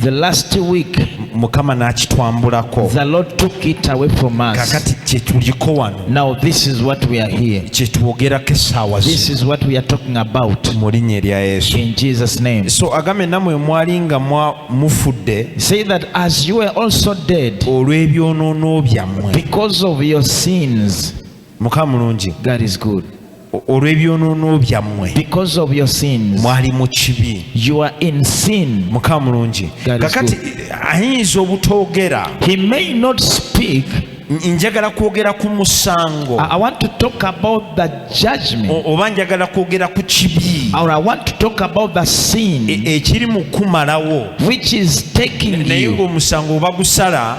the last week mukama n'akitwambulako the lord took it away from us kakati kyetuliko wano now this is what we are here kyetwogerako essaawa this is what we are talking about mu linnya erya yesu in jesus name so agambe namwe mwali nga mufudde say that as you were also dead olw'ebyonoono byammwe because of your sins mukama mulungi god is good olw'ebyonoono byammwe mwali mu kibi mukama mulungi kakati ayinza obutoogera njagala kwogera ku musango oba njagala kwogera ku kibi e, ekiri mu kumalawo naye ng'omusango oba gusala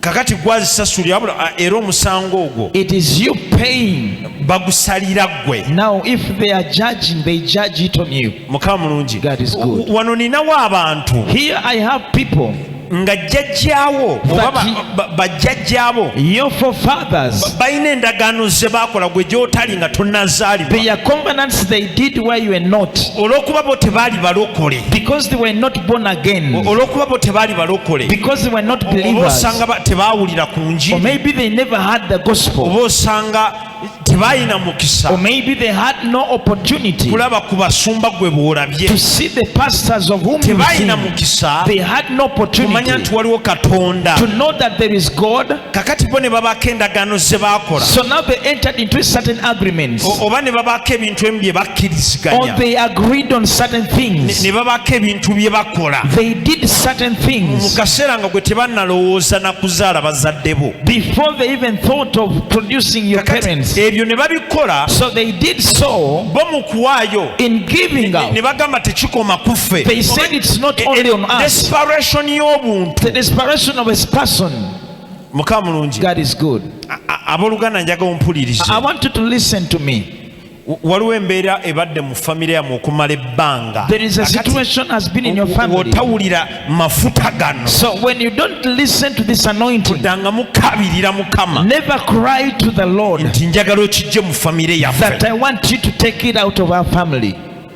kakati gwazisasulira ah, era omusango ogwo it is you paying bagusalira gwe now if they are judging they judge it on you mukama mulungi god is good wano ninawo abantu here i have people nga jjajjaawo bajjajjaabo balina endagaano ze baakola gwe gy'otali nga tonnazaalibwa olw'okuba bo tebaali balokole born again olwokuba bo tebaali balokole because they were not believers osanga tebaawulira ku njiri or maybe they never had the gospel oba osanga tebalina mukisa or maybe they had no opportunity kulaba ku basumba gwe bwolabye to see the pastors of whom tebalina mukisa they had no opportunity kumanya nti waliwo katonda to know that there is god kakati bo ne babaako endagaano ze baakola so now they entered into certain agreements oba ne babaako ebintu emu bye bakkiriziganya or they agreed on certain things ne babaako ebintu bye bakola they did certain things mu kaseera nga gwe tebannalowooza na kuzaala bazadde bo before they even thought of producing your parents ebyo ne babikola so they did so bo mu kuwaayo in giving out ne bagamba tekikoma ku ffe they said it's not only on us desperation y'obuntu the desperation of a person mukama mulungi god is good aboluganda njaga ompulirize i want you to listen to me waliwo embeera ebadde mu famire yamwe okumala ebbanga otawulira mafuta gano kudanga mukabirira mukama nti njagala okijje mu famire yaffe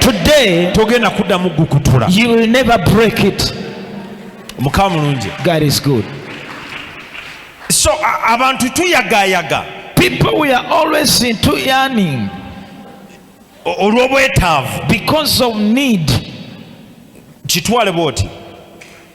Today, togenda kuddamu gukutula you will never break it. mukama mulungi God is good. so a- abantu tuyagayaga People, we are always into yearning o- olw'obwetaavu because of need. kitwale bwoti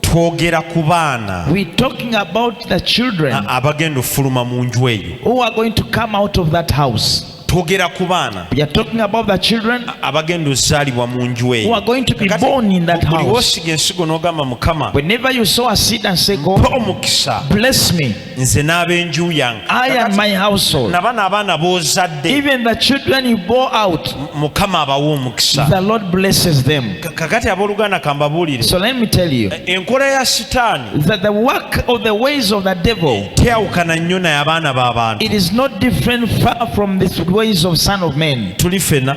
twogera ku baana abagenda okufuluma mu nju eyo twogera ku baana abagenda ozaalibwa mu nju eyobuliwosiga ensigo n'ogamba mukama omukisa nze n'ab'enju yange nabana abaana b'ozaddeout mukama abawa omukisa kakati abooluganda kambabuulire eh, enkola ya sitaani teyawukana nnyo naye abaana b'abantu tuli fena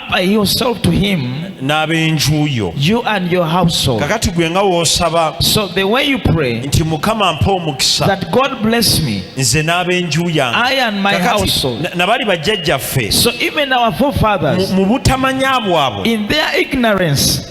yourself to him n'ab'enju yo you and your household kakati gwe nga w'osaba so the way you pray nti mukama mpa omukisa that god bless me nze n'ab'enju yange i and my household nabali bajjajjaffe so even our forefathers mu butamanya bwabwe in their ignorance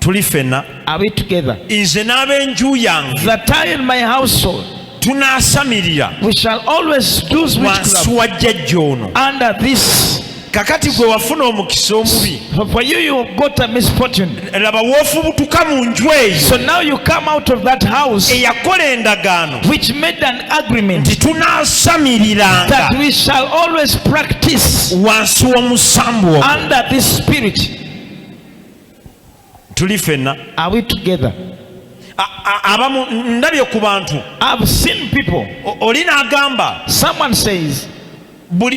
tuli fena nze n'abenju yange tunaasamirira wansi wa jjajja ono kakati gwe wafuna omukisa omubi laba wofubutuka mu nju eyoeyakola endagaano nti tunasamiriranga wansi w'omusambu ogwo tuli fenna are we together abamu ndabye ku bantu i've seen people oli n'agamba someone says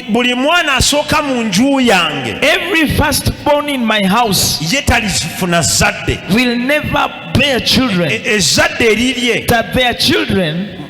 buli mwana asooka mu nju yange every first born in my house ye talizifuna zadde will never bear children e, e, ezadde erirye that their children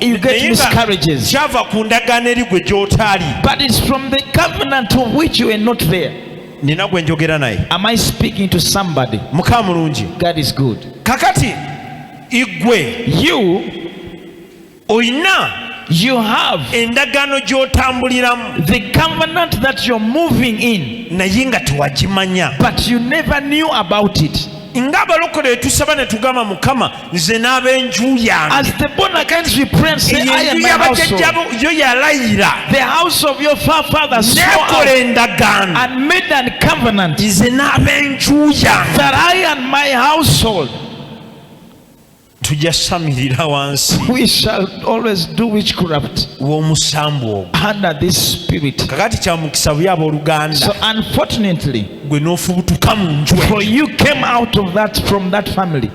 you get Naye nga miscarriages. kyava ku ndagaano eri gwe gy'otaali But it's from the covenant of which you were not there. nina gwe njogera naye Am I speaking to somebody? mukama mulungi God is good. kakati igwe You, olina you have endagaano gy'otambuliramu the covenant that you're moving in, naye nga tewagimanya but you never knew about it. nga abalokole tusaba ne tugamba mukama nze n'abenju yangeabajajjabo yo yalayira nekola endagaano nze n'abenju yange tujasamirira wansi we shall always do witchcraft w'omusambu ogwo under this spirit kakati kyamukisa buya abooluganda so unfortunately gwe n'ofubutuka mu nju for you came out of that from that family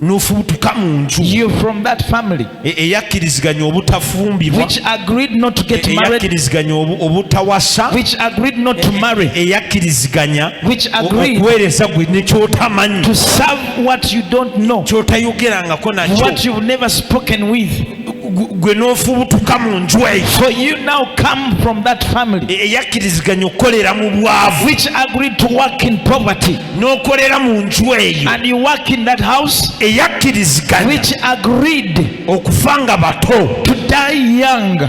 n'ofubutuka mu nju you from that family e, eyakkiriziganya obutafumbirwa which agreed not to get e, married eyakkiriziganya obutawasa which agreed not to e, marry eyakkiriziganya which agreed okuweereza gwe nekyotamanyi to serve what you don't know kyotayogerangako nakyo what you've never spoken with gwe n'ofubutuka mu nju eyo for you now come from that family e, eyakkiriziganya okukolera mu bwavu which agreed to work in poverty n'okolera mu nju eyo and you work in that house eyakkiriziganya which agreed okufa nga bato to die young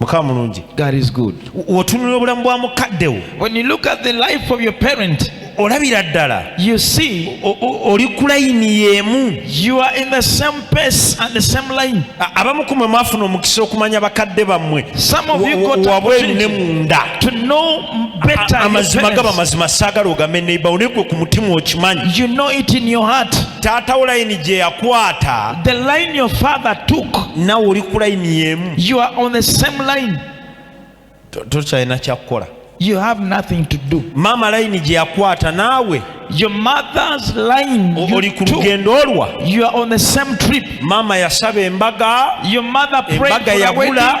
mukama mulungi god is good wotunula obulamu bwa mukadde wo when you look at the life of your parent olabira ddala you see oli ku layini y'emu you are in the same pace and the same line abamu kumwe mwafuna omukisa okumanya bakadde bammwe wabweru ne munda amazima gaba mazima saagala ogame neibawo naye gwe ku mutima okimanyi you know it in your heart taata wo layini gye yakwata the line your father took nawe oli ku layini yemu you are on the same line tokyalina kyakukola you have nothing to do maama layini gye yakwata naawe your mother's line oli ku lugendo olwa you are on the same trip maama yasaba embaga your mother prayed embaga yabula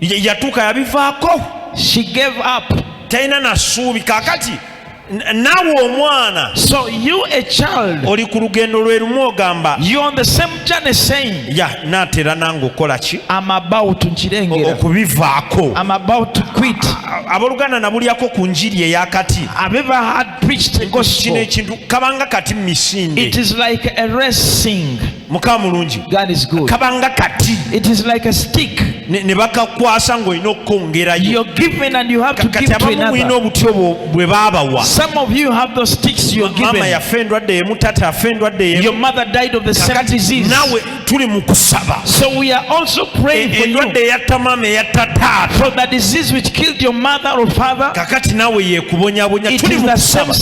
yatuuka yabivaako she gave up talina nasuubi kakati nawe omwana so you a child oli ku lugendo lwe lumu ogamba you on the same journey saying ya yeah, natera nange okola ki am about nkirengera okubivaako am about to quit aboluganda nabulyako ku njiri eyakati abeva had preached kino ekintu kabanga kati misinde it is like a racing muka mulungi kabanga kati ne bakakwasa ng'olina okukwongerayo kati abamu mulina obuti obwo bwe baabawa maama yafa endwadde yemu tata afa endwadde yemunaawe tuli mu kusaba endwadde eyatta maama eyatta taata kakati naawe yekubonyabonya tuli mu kusaba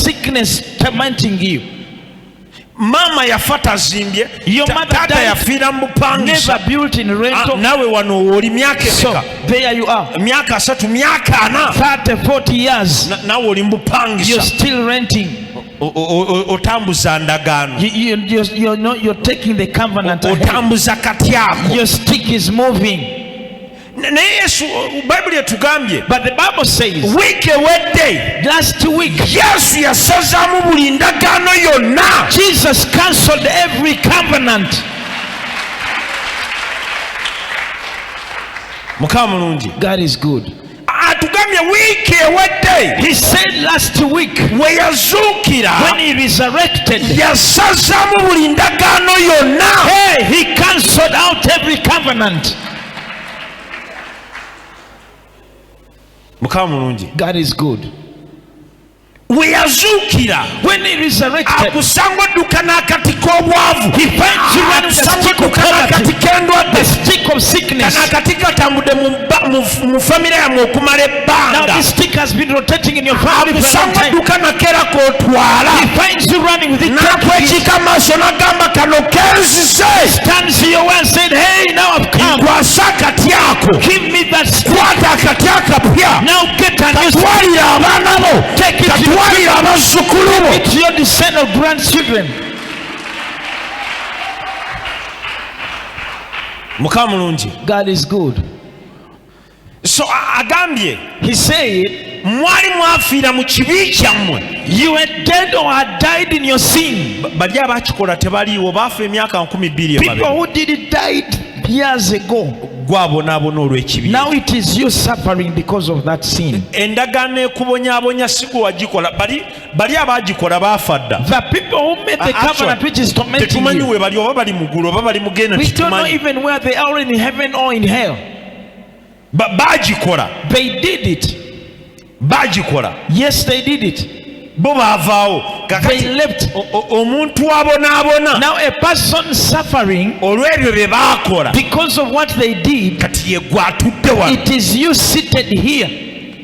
maama yafa tazimbye taata yafiira mu bupangisa ah, nawe wano oli myaka emeka myaka asatu myaka ana nawe oli mu bupangisa otambuza ndagaano otambuza katyaako naye yesu bayibuli etugambye wiiki ewedde yesu yasazaamu buli ndagaano yonna jesus cancelled every covenant mukama mulungi god is good atugambye wiiki ewedde weyazuukira yasazaamu buli ndagaano yonna mukama mulungi god is good we yazuukira akusanga odduka n'akati k'obwavu akusanga odduka n'akati k'endwadde kana akati katambudde mu famire yamwe okumala ebbanga amusanga dduka nakeera kotwala nakwekika amaaso nagamba kano kenzizenkwasa akati ako kwata akati akapya katwalira abaana bo katwalira abazzukulu bo mukama mulungi So agambye he said mwali mwafiira mu kibi kyammwe you were dead or had died in your sin bali abakikola tebaliiwo baafa emyaka nkumi bbiri people who did it died years ago gwabonaabona olw'ekibi now it is you suffering because of that sin endagaano ekubonyabonya si gwe wagikola bali bali abagikola baafa dda the people who made the ah, covenant which is tormenting you tetumanyi we bali oba bali mu ggulu oba bali mu genda tetumanyi we don't know even where they are in heaven or in hell bagikola they did it bagikola yes they did it bo baavaawo omuntu abonaabona olw'ebyo bye baakola kati ye gwatudde wano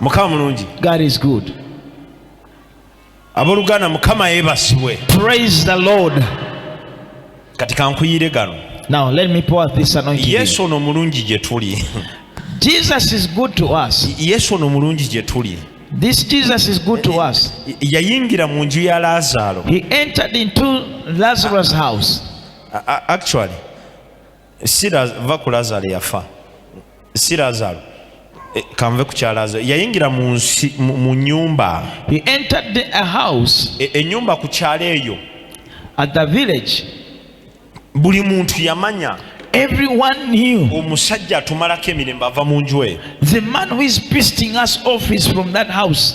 mukama mulungi god is good aboluganda mukama yebasibwe praise the lord kati kankuyire gano now let me pour this anointing yesu ono mulungi gye tuli jesus is good to us yesu ono mulungi gye tuli This Jesus is good to us. yayingira mu nju ya laazaalo he entered into lazarus house actually si va ku lazaro yafa si lazaro eh, kanve ku kya lazaro yayingira mu nyumba enyumba e, e ku kyalo eyo buli muntu yamanya everyone knew omusajja atumalako emirembe ava mu nju eyo the man who is pisting us off is from that house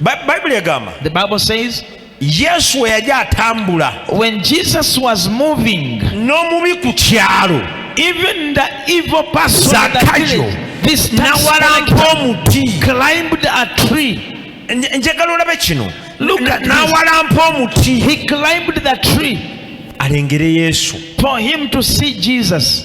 Bible egamba. The Bible says Yesu we yali atambula. When Jesus was moving. N'omubi ku kyalo. Even the evil person. Zakayo. This tax collector climbed a tree. njagala olabe kino n'awalampa omuti he climbed the tree alengere yesu for him to see jesus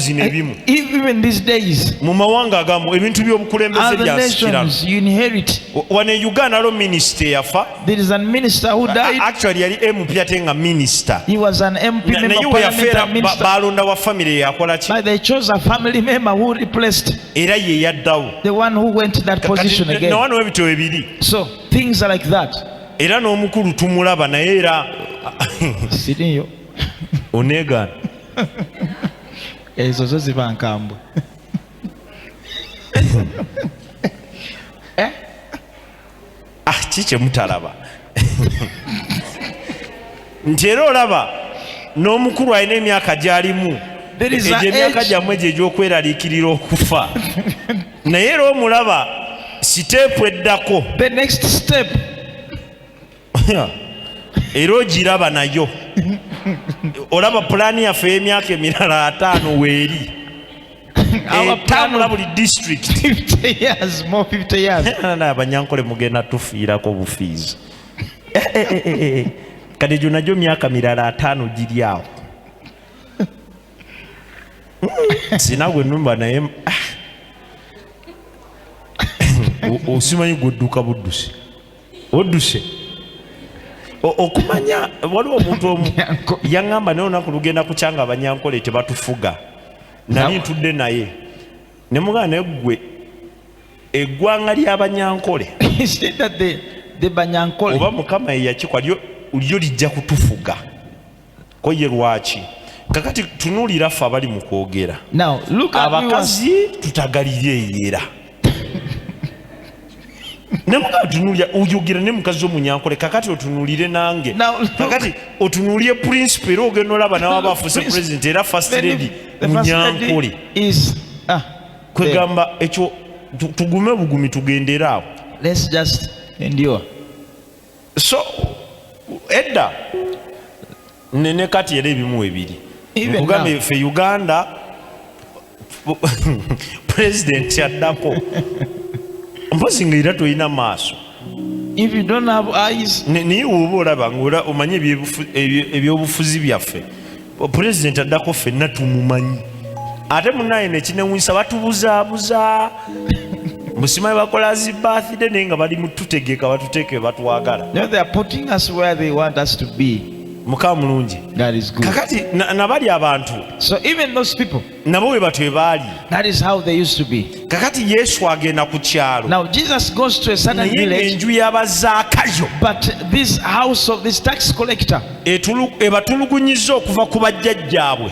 zino ebimu mu mawanga agamu ebintu by'obukulembeze byasikiranawane uganda alo minisita eyafa actually yali mp ate nga minisita naye weyafeera balonda wa famiry yakola ki era ye yaddawo nawano ebityo ebiri era n'omukulu tumulaba naye era onegaana ezo zo ziba nkambwe eh? ah, ki kyemutalaba nti era olaba n'omukulu alina emyaka gyalimu egyo emyaka gyammwe egyo egy'okweraliikirira okufa naye era omulaba siteepu eddako the next step era ogiraba nayo olaba pulaani yaffe ey'emyaka emirala ataano weeri etambula buli districtabanyankole mugenda tufiirako obufiizi eh, eh, eh, kati egyo nagyo myaka mirala ataano giri awo hmm, sina gwe numba naye ah. osimanyi gwe dduka buddusi odduse okumanya waliwo omuntu omu yaŋŋamba naye olunaku lugenda kukyanga abanyankole tebatufuga nali ntudde naye ne mugana naye ggwe eggwanga ly'abanyankole oba mukama yeyakikwa lyo lijja kutufuga koye lwaki kakati tunulira ffe abali mu kwogera abakazi tutagalire eyera nemuga tunulira oyogera ne mukazi omunyankole kakati otunulire nange kakati otunulire principle era ogenda olaba nawe aba afuse president era first lady munyankole ah, kwegamba ekyo tugume bugumi tugendere awo so edda nene kati era ebimu ebiri nkugambye fe uganda president addako mpozi nga era tolina maaso naye woba olaba nga omanyi ebyobufuzi byaffe pulezidenti addako ffenna tumumanyi ate munaye nekinewunyisa batubuzaabuza musimayi bakola zi birthday naye nga bali mututegeka batuteeke batwagala mukama mulungi kakati nabali abantu nabo bwe batyo baali kakati yesu agenda ku kyalo naye enju y'abazakayo ebatulugunyiza okuva ku bajjajjaabwe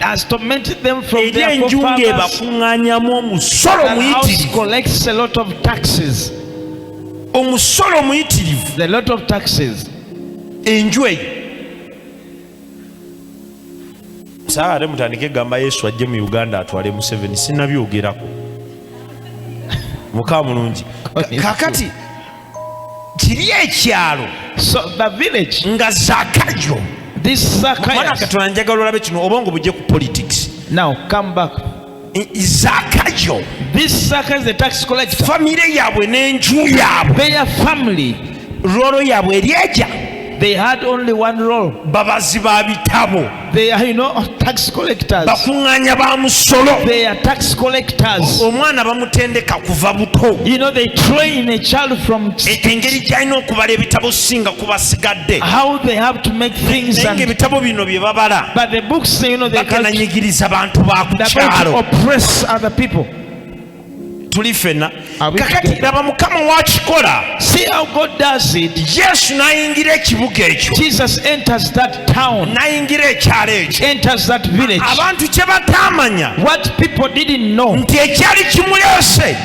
eri enju ng'ebakuŋŋanyamu omusolo muyitirivu omusolo muyitirivu enju eyo saa ate mutandike gamba yesu ajje mu uganda atwale museveni sinabyogerako muka mulungi kakati kiri ekyalo nga zakajo mwana katonda njagala olabe kino obongo bujje ku politics now come back zaka yo famire yaabwe n'enju yaabwe rolo yaabwe eryeja They had only one role. babazi ba bitabo They are, you know, tax collectors. bakuŋŋaanya ba musolo They are tax collectors. omwana bamutendeka kuva buto You know, they train a child from engeri gy'alina okubala ebitabo singa ku basigadde naye ebitabo bino bye babala bakenanyigiriza bantu ba ku kyalo tuli fena kakati laba mukama wakikola yesu nayingira ekibuga ekyo nayingira ekyalo ekyo abantu kye bataamanya nti ekyali kimuleese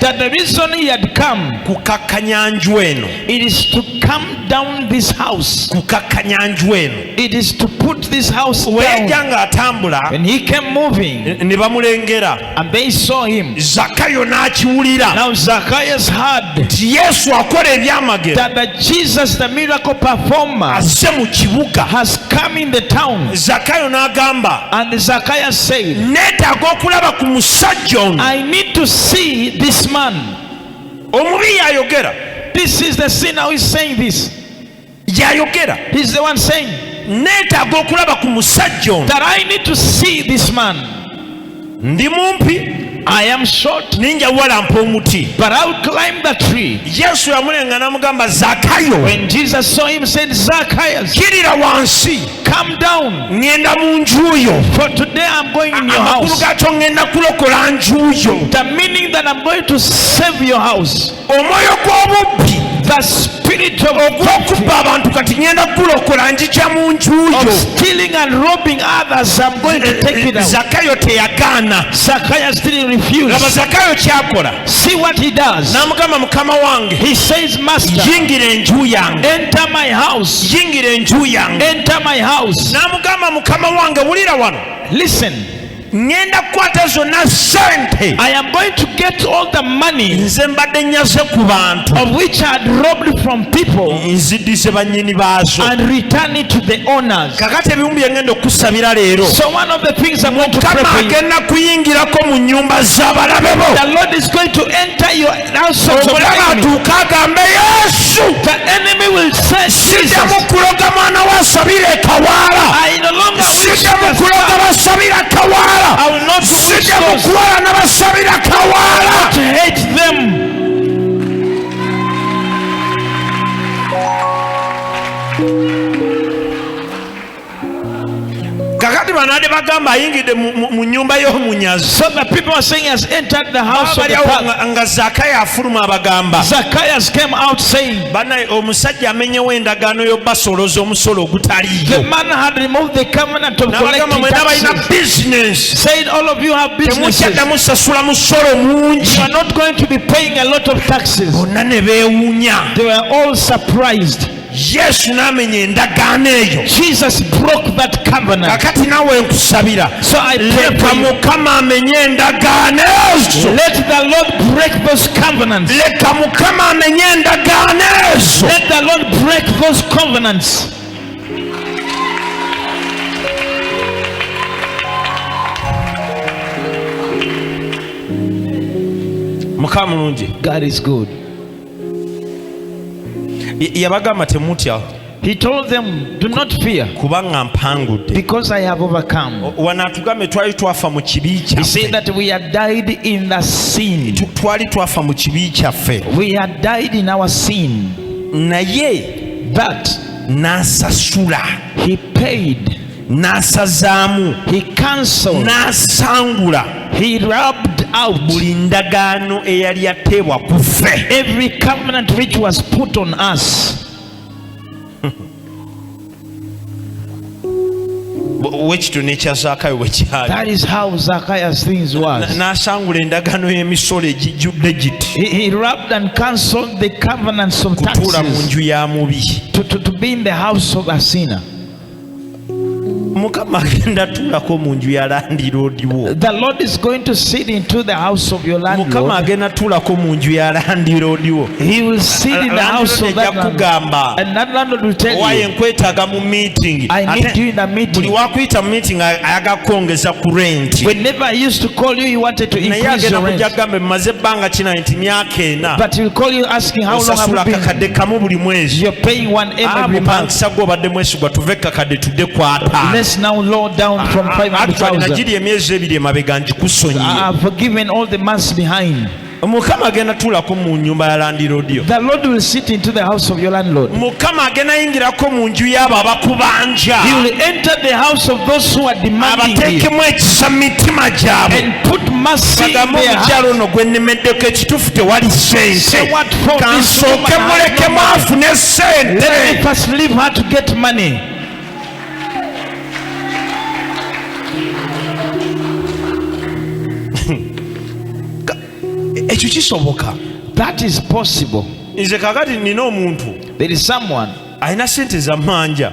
kukakkanya nju eno It is to come down this house. Kukakkanya nju eno. It is to put this house down. Weyajja ng'atambula. When he came moving. Ne bamulengera. And they saw him. Zakayo n'akiwulira. Now Zacchaeus heard. Nti Yesu akola ebyamagero. That the Jesus the miracle performer. Azze mu kibuga. Has come in the town. Zakayo n'agamba. And Zacchaeus said. Neetaaga okulaba ku musajja ono. I need to see this man. omubi yayogera this is the sin now is saying this yayogera he is the one saying neetaaga okulaba ku musajja ono that i need to see this man ndi mumpi I am short ninja wala mpo muti but I will climb the tree Yesu yamulenga namugamba Zakayo when Jesus saw him said Zakayo kirira wansi come down ngenda mu njuyo for today i'm going in your house amakulu gacho ngenda kulokola njuyo the meaning that i'm going to save your house omwoyo gw'obubbi the spirit of okubba abantu kati ngenda kulokola njija mu njuyo stealing and robbing others i'm going to take it out zakayo teyagaana zakayo still refused laba zakayo kyakola See what he does. Namugamba mukama wange. He says master. Yingira enju yange. Enter my house. Yingira enju yange. Enter my house. Namugamba mukama wange wulira wano. Listen. ngenda kukwata zonna sente i am going to get all the money nze mbadde nyaze ku bantu of which i had robbed from people nziddize bannyini baazo and return it to the owners kakati ebimu byengenda okukusabira leero mukama agenda kuyingirako mu nyumba z'abalabe bo omulabe atuuka agambe yesu sijamu kuloga mwana wa sabira ekawaala sijamu kuloga basabira kawaala sijamu kuwala na basabira kawaala kakati banade bagamba ayingidde mu nyumba y'omunyazi nga zakaya afuluma abagamba banaye omusajja amenyewo endagaano y'obasoloza omusolo ogutaliyoabagamba mwena balina bizinesimukyaddamu sasula musolo mungi bonna ne beewunya yesu n'amenya endagaano eyo kakati nawe nkusabira leka mukama amenye endagaano ezo leka mukama amenye endagaano ezo mukama mulungi god is good yabagamba temutya He told them, Do not fear. kubanga mpangudde Because I have overcome. wanaatugambe twali twafa mu kibi He said kyaffe that we had died in the sin. Tu- twali twafa mu kibi kyaffe We had died in our sin. naye But n'asasula he paid n'asazaamu he cancelled n'asangula he rubbed out buli ndagaano eyali yateebwa ku ffe every covenant which was put on us wekitu nekya zakayo bwekyalnasangula endagaano y'emisolo egijjudde gitikutuula mu nju ya mubi mukama agenda tulako mu nju ya landiroodi wo mukama agenda tulako mu nju ya landiroodi wo ejja kugamba owaye nkwetaaga mu meeting buli wakuyita mu meeting ayaga kwongeza ku renti naye agenda kujja kugambe maze ebbanga kina nti myaka ena osasula kakadde kamu buli mwezi ah, sagwa obadde mwesigwa tuve kakadde tudde kwatagiri emyezi ebiri emabega ngikusonyiyemukama agenda tuulako mu nyumba ya landirodio mukama agenda yingirako mu nju yaabo abakubanja abateekemu ekisa mu mitima gyabwe omukyalo ono gwenemeddeko kitufu tewali sente kansooke mulekemu afune sente ekyo kisoboka that is possible nze kakati nina omuntu there is someone alina sente zamanja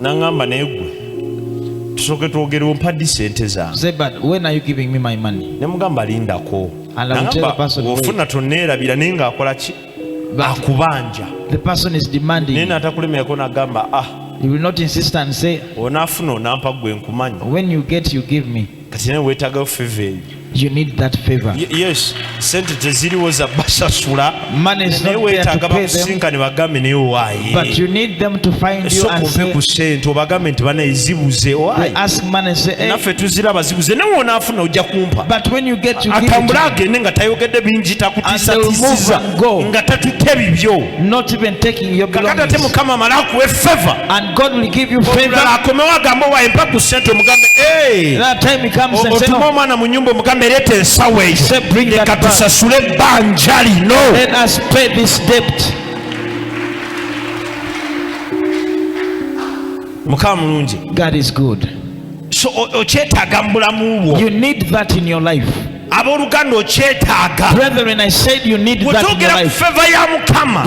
nangamba naye gwe tusooke twogerewo mpaddi sente zangenemugamba lindako ofuna toneerabira naye ngaakola ki akubanja naye natakulemerako nagamba ah onafuna onampa gwe nkumanyi kati naye weetagayo feva eyo You need that favor. Y yes, sente teziriwo za basasula. Money is not there to pay them. But you need them to find you and say, ku sente obagambe nti bana ezibuze owaye. Ask money say, hey. Naffe tuziraba zibuze nawe onaafuna ojja kumpa. But when you get you atambule agende nga tayogedde bingi takutiisatiisiza nga tatutte bibyo. Not even take kakati ate mukama amala akuwe feva olulala akomewo agamba owa empaku sente omugambe otuma omwana mu nyumba omugambe ereeta ensawo eyo leka tusasule ebbanja lino mukama mulungi okyetaaga mu bulamu bwo abooluganda okyetaaga bwetwogera ku feva ya mukama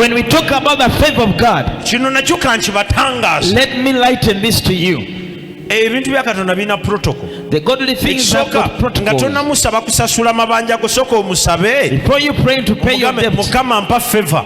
kino nakyo kankibatangaasa ebintu bya katonda birina protocol the godly things have got protocol nga tonamusaba kusasula mabanja go soko omusabe before you pray to pay your debt mukama mpa favor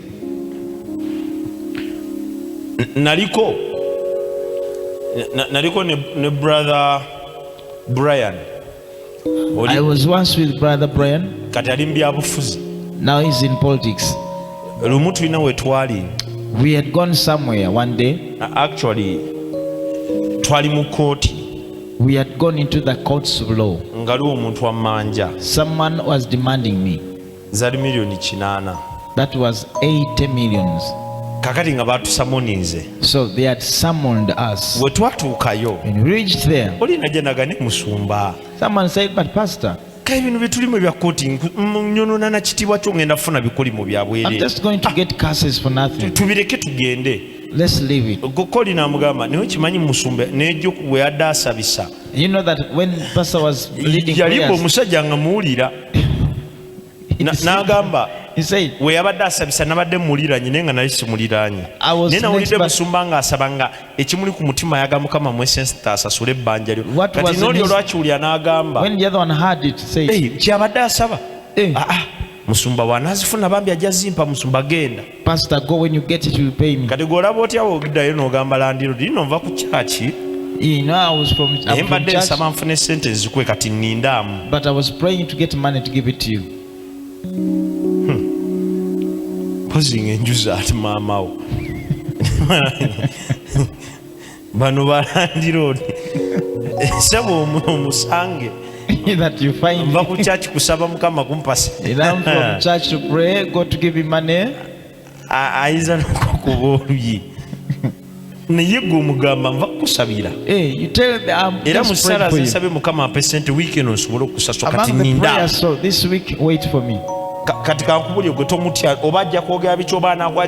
naliko naliko ne, ne brother Brian Oli, I was once with brother Brian kati ali mu byabufuzi now he's in politics lumu tulina wetwali we had gone somewhere one day actually twali mu kooti we had gone into the courts of law ngaliwo omuntu wammanja someone was demanding me zali million kinana that was 80 millions kakati nga batusamoninze so they had summoned us we twatuukayo and reached there oli najenaga ne musumba someone said but pastor ka ebintu byetulimu ebya koti nyonona na kitibwa kyo ngenda funa bikuli mu byabwere tubireke tugende Let's leave it. Gokoli na mugamba niwe kimanyi musumbe nejo we adasabisa. You know that when pastor was leading prayers. Yalipo musajja nga muulira. n'agamba we yabadde asabisa nabadde mumuliranye naye nga nali simuliranye naye nawulidde musumba ng'asaba nga ekimuli ku mutima ayaga mukama mwesensita asasule ebbanja lyo kati nooli olwakiwulira n'agamba kyabadde asaba eh. ah, ah. musumba wanazifuna bambi ajja zimpa musumba genda Pastor, go when you get it, you pay me. Kati golaba otya wogidayo nogamba landlord ino nva ku church. You know, I was from, I'm from church. Nsaba nfune sente nzikwe kati nindamu. But I was praying to get money to give it to you. Hmm. Posing enjuza ati mama wo. bano balandiroodi saba omusange that you find mva ku church kusaba mukama kumpasa learn from church to pray go to give him money ayinza nokukuba oluyi naye gwe omugamba nva kukusabira eh, um, era mu ssaala zisabe mukama ampe sente wiiki eno nsobole okusasula kati ninda kati kankubulye gwe tomutya oba ajja kwogera bikyoba anagwa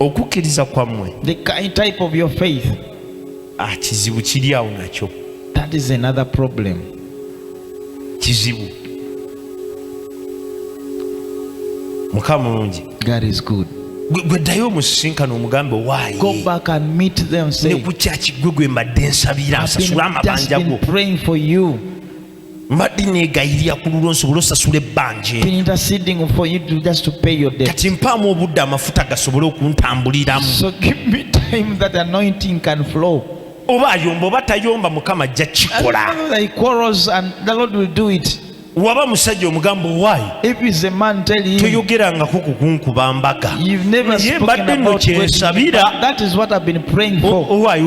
okukkiriza kwammwe the kind type of your faith ah, kizibu kiri awo nakyo that is another problem kizibu mukama mulungi god is good gwe ddayo omusisinkano omugambe owaayeneku kyaki gwe gwe mbadde nsabira asasula amabanja go mbadde negayirira ku lulwo nsobola osasula ebbanja kati mpaamu obudde amafuta gasobole okuntambuliramu oba ayomba oba tayomba mukama ajja kikola waba musajja omugamba owaayi toyogerangako kukunkuba mbaga naye mbadde no kyensabira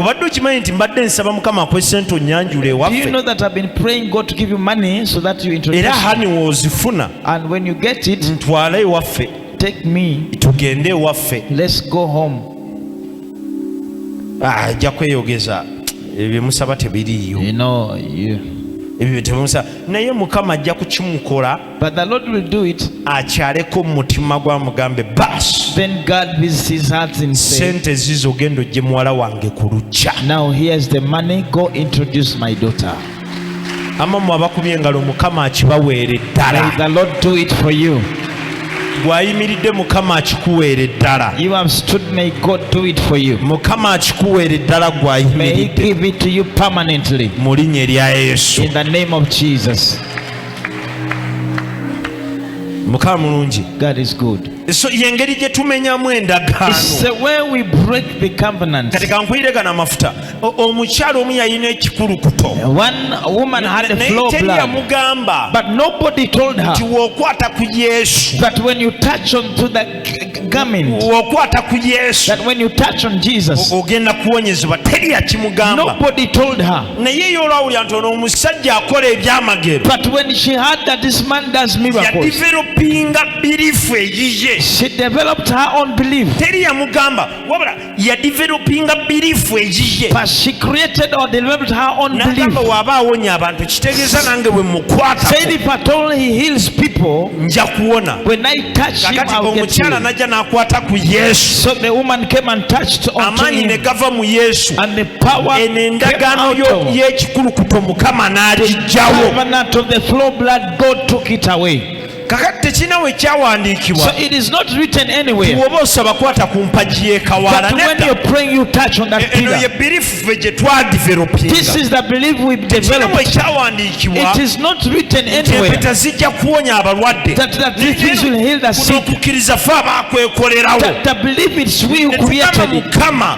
obadde okimanyi nti mbadde nsaba mukama akwe sente onyanjula ewaffe era hani wozifuna ntwala ewaffe tugende ewaffe ah, ajja kweyogeza ebyo musaba tebiriiyo ebyo temusa naye mukama ajja kukimukola but the lord will do it akyaleko mu mutima gwamugambe bas then god visits his heart in faith sente zizo genda ojje muwala wange ku lujja now here's the money go introduce my daughter amamwe abakubye engalo mukama akibaweere ddala the lord do it for you gwayimiridde mukama akikuweere ddala mukama akikuweere ddala gwayimiridde mu linnya erya yesu mukama mulungi so yengeri gye tumenyamu endagaano kati kankwire gano amafuta omukyala omu yalina ekikulukuto yamugamba nti wokwata ku yesu wokwata ku yesu ogenda kuwonyezebwa teri yakimugamba naye yolwawulira nti ono omusajja akola ebyamagero yadivelopinga birifu eyiye teri yamugamba wabula yadivelopinga biriifu egiye nagamba waaba awonya abantu kitegeeza nange bwe mukwatako nja kuwona kakati omukyala najja n'akwata ku yesu amaanyi ne gava mu yesu eno endagaano y'ekikulukuto mukama n'agijjawo kakati tekirina we kyawandiikibwa bw'oba osaba kwata ku mpagi y'ekawaala eno ye birifu ffe gye twadivelopingatekirina we kyawandiikibwa nti empeta zijja kuwonya abalwadde kuno okukkiriza ffe abakwekolerawo mukama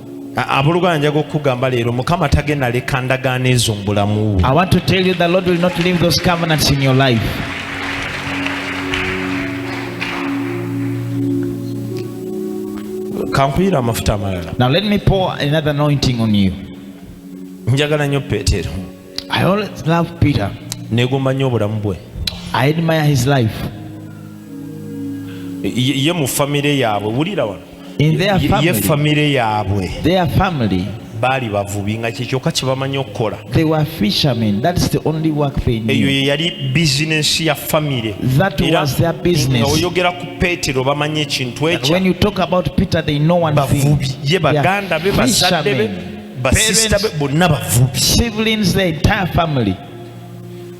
abuluganja gokugamba leero mukama tagenda leka ndagaano ezo mu bulamu bwe i want to tell you the lord will not leave those covenants in your life kankuyira amafuta amalala now let me pour another anointing on you njagala nnyo peetero i always love peter negomba nnyo obulamu bwe i admire his life ye mu famire yaabwe wulira wano in their family, ye family yaabwe their family baali bavubi nga kyekyoka kyebamanyi okukola eyo yeyali bizinesi ya famire nga oyogera ku peetero bamanyi ekintu ekyobavubi ye baganda be bazadde be basista be bonna bavubi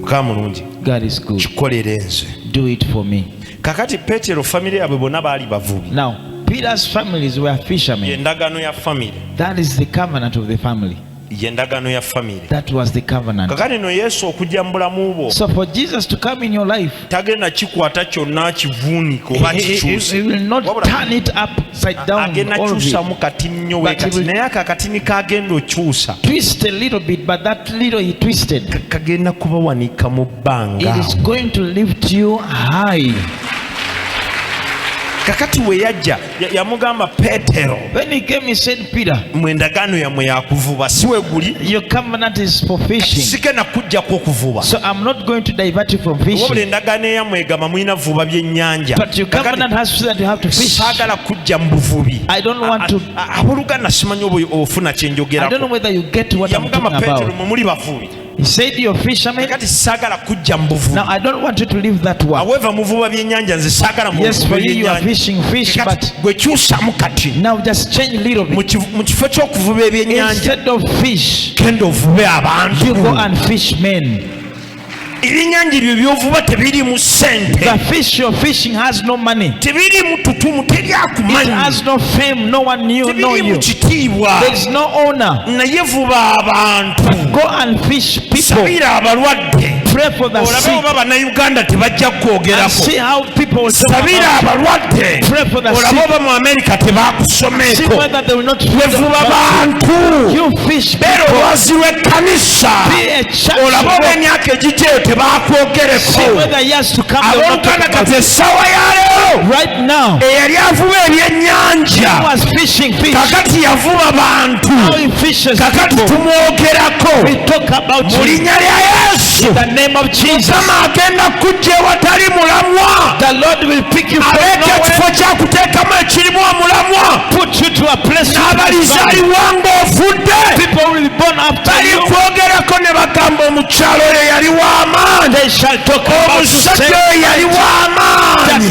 mukama mulungi kikolere nze kakati petero famiry yabwe bonna baali bavubi yendagano ya famiry yendagano ya famiry kakati no yesu okujja mu bulamu bwo tagenda kikwata kyonna kivuuniko oba kikyusaagenda kyusamu katinnyo wekati naye ako akatini kagenda okyusa kagenda kubawanika mu bbanga kakati weyajja yamugamba petero when he came he said peter mwe endagaano yammwe yakuvuba si we guli your covenant is for fishing sigenda kujjako okuvuba so i'm not going to divert you from fishing wabula endagaano eyammwe egamba mulina vuba byennyanja but your covenant has said that you have to fish saagala kujja mu buvubi i don't want to aboluganda simanyi oba ofuna kye njogerako yamugamba petero mwe muli bavubi He said you're fishermen. Kati sagala kujja mbuvu. Now I don't want you to leave that one. However muvuba byenyanja nze sagala mu. Yes for you you are fishing fish but gwe kyusa mu kati. Now just change little bit. Mu kifo ky'okuvuba ebyenyanja. Instead of fish. Kenda ovube abantu. You go and fish men. ebyenyanja ebyo byovuba tebirimu sente the fish you're fishing has no money tebirimu tutumu teri akumanyi it has no fame no one knew know you tebirimu kitiibwa there is no owner naye vuba abantu sabira abalwadde olabe oba bannayuganda tebajja kukwogerako sabira abalwadde olabe oba mu amerika tebakusomeeko wevuba bantu beera olwazi lw'ekkanisa olabe oba emyaka egigyeyo tebakwogereko abooluganda kati essaawa ya leero eyali avuba ebyennyanja kakati yavuba bantu kakati tumwogerako mu linnya lya yesu mukama agenda kujja ewatali mulamwa aleeta ekifo kyakuteekamu ekirimu omulamwa n'abalizaliwa ng'ofudde balikwogerako ne bagamba omukyalo oyo yali w'amaanyi omusajja oyo yali w'amaanyi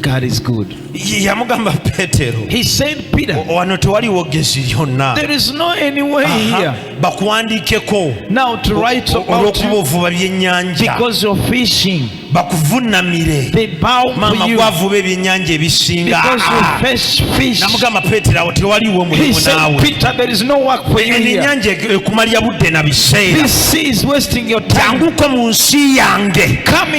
God is good. yamugamba petero He said, Peter, "O- wano tewaliwo ggezi lyonna there is no any way Aha, here bakuwandiikeko now to write about olw'okuba you ovuba byennyanja because you're fishing. bakuvunamire They bow maama for you gwavuba ebyennyanja ebisinga because you Ah, ah. fish fish. namugamba petero awo tewaliwo He mulimu said, naawe Peter, there is no work for you eno here. ennyanja ek- ekumalira budde na biseera This sea is wasting your time. janguko mu nsi yange Come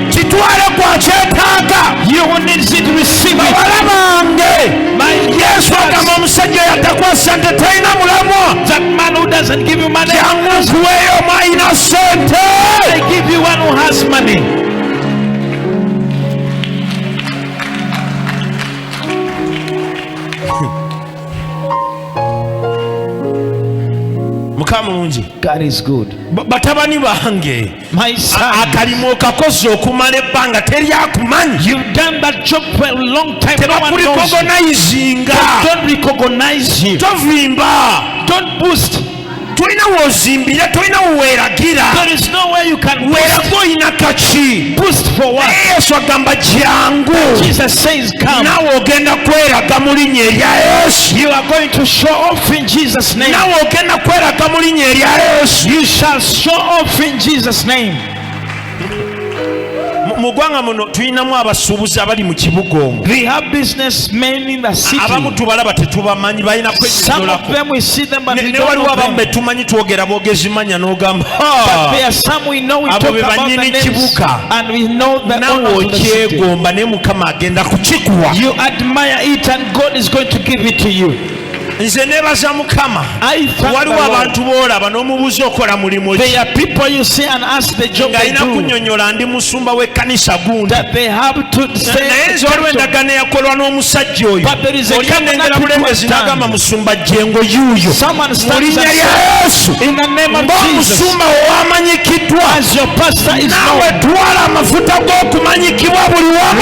kitwale kwakyetaaga bawala bange yesu agamba omusajja yatakwasa nti talina mulamwa jangu nkuweeyo mwalina sente mukama mulungi batabani bange akalimu okakoze okumala ebbanga teri akumanyi tebakurikogonayizinga tovimba tolina wozimbira tolina weweragira weraga olina kaki yesu agamba jangu nawe ogenda kweraga mu linnya erya yesu nawe ogenda kweraga mu linnya erya yesu Show off in Jesus name. mu ggwanga muno tulinamu abasuubuzi abali mu kibuga omu abamu tubalaba tetubamanyi balina kwenyonyolanewaliwo abamu betumanyi twogera bogezi manya n'ogamba abo be banyini kibuga nawe okyegomba naye mukama agenda kukikuwa nze nebaza mukama waliwo abantu boolaba n'omubuuza okola mulimu ng'alina kunyonyola ndi musumba w'ekkanisa gundiaye nze waliwo endagaano eyakolwa n'omusajja oyo olya nengera bulembezi n'agamba musumba jengo yuuyo mu linnya lya yesu ng'omusumba owamanyikiddwa naawe twala amafuta g'okumanyikibwa buli wamu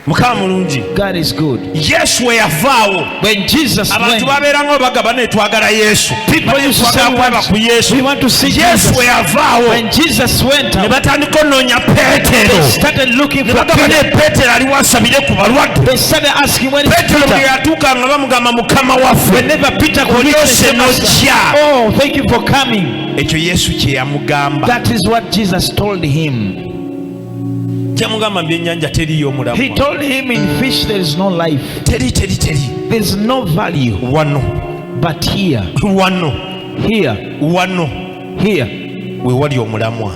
mukama mulungi yesu we yavaawo abantu babeeranga obagaba naye twagala yesu twagala ku yesu yesu we yavaawo ne batandika onoonya peetero ne bagamba naye peetero aliwo asabire ku balwadde peetero bwe yatuuka nga bamugamba mukama waffe olyose nojja oh, ekyo yesu kye yamugamba that is what jesus told him kyamugamba mu byennyanja teriyo omulamu he told him in fish there is no life teri teri teri there is no value wano but here wano here wano here we wali omulamwa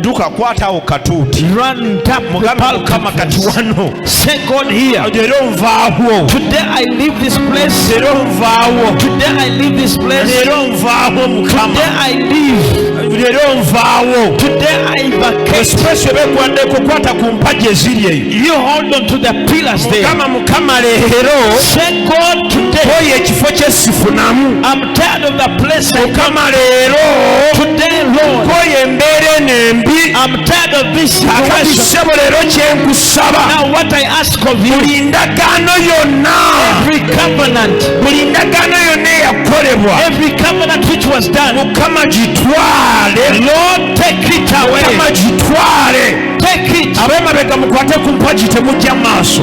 duka kwatawo katuuti mugamba mukama kati wano era onvaawo era onvaawo era onvaawo mukama era onvaawo esipesi obegwadde kukwata ku mpaji eziri eyo mukama mukama leero oyo ekifo kyesifunamu mukama leero nkoye embeera eno embi akati ssebo leero kyenkusaba buli ndagaano yonna buli ndagaano yonna eyakolebwa mukama gitwale mukama gitwale abemabega mukwate ku mpagi temujja maaso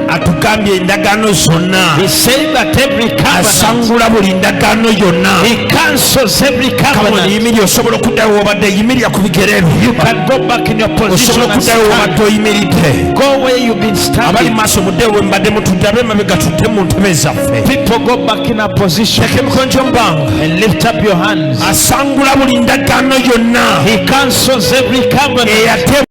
atugambye endagaano zonna asangula buli ndagaano yonna yimirira osobola okuddayo wobadde yimirira ku bigere byosobola okuddayo wobadde oyimiridde abali maaso mudde we mbadde mutudde abe mabega tudde mu ntebe zaffe teka emikono gyomubanga asangula buli ndagaano yonna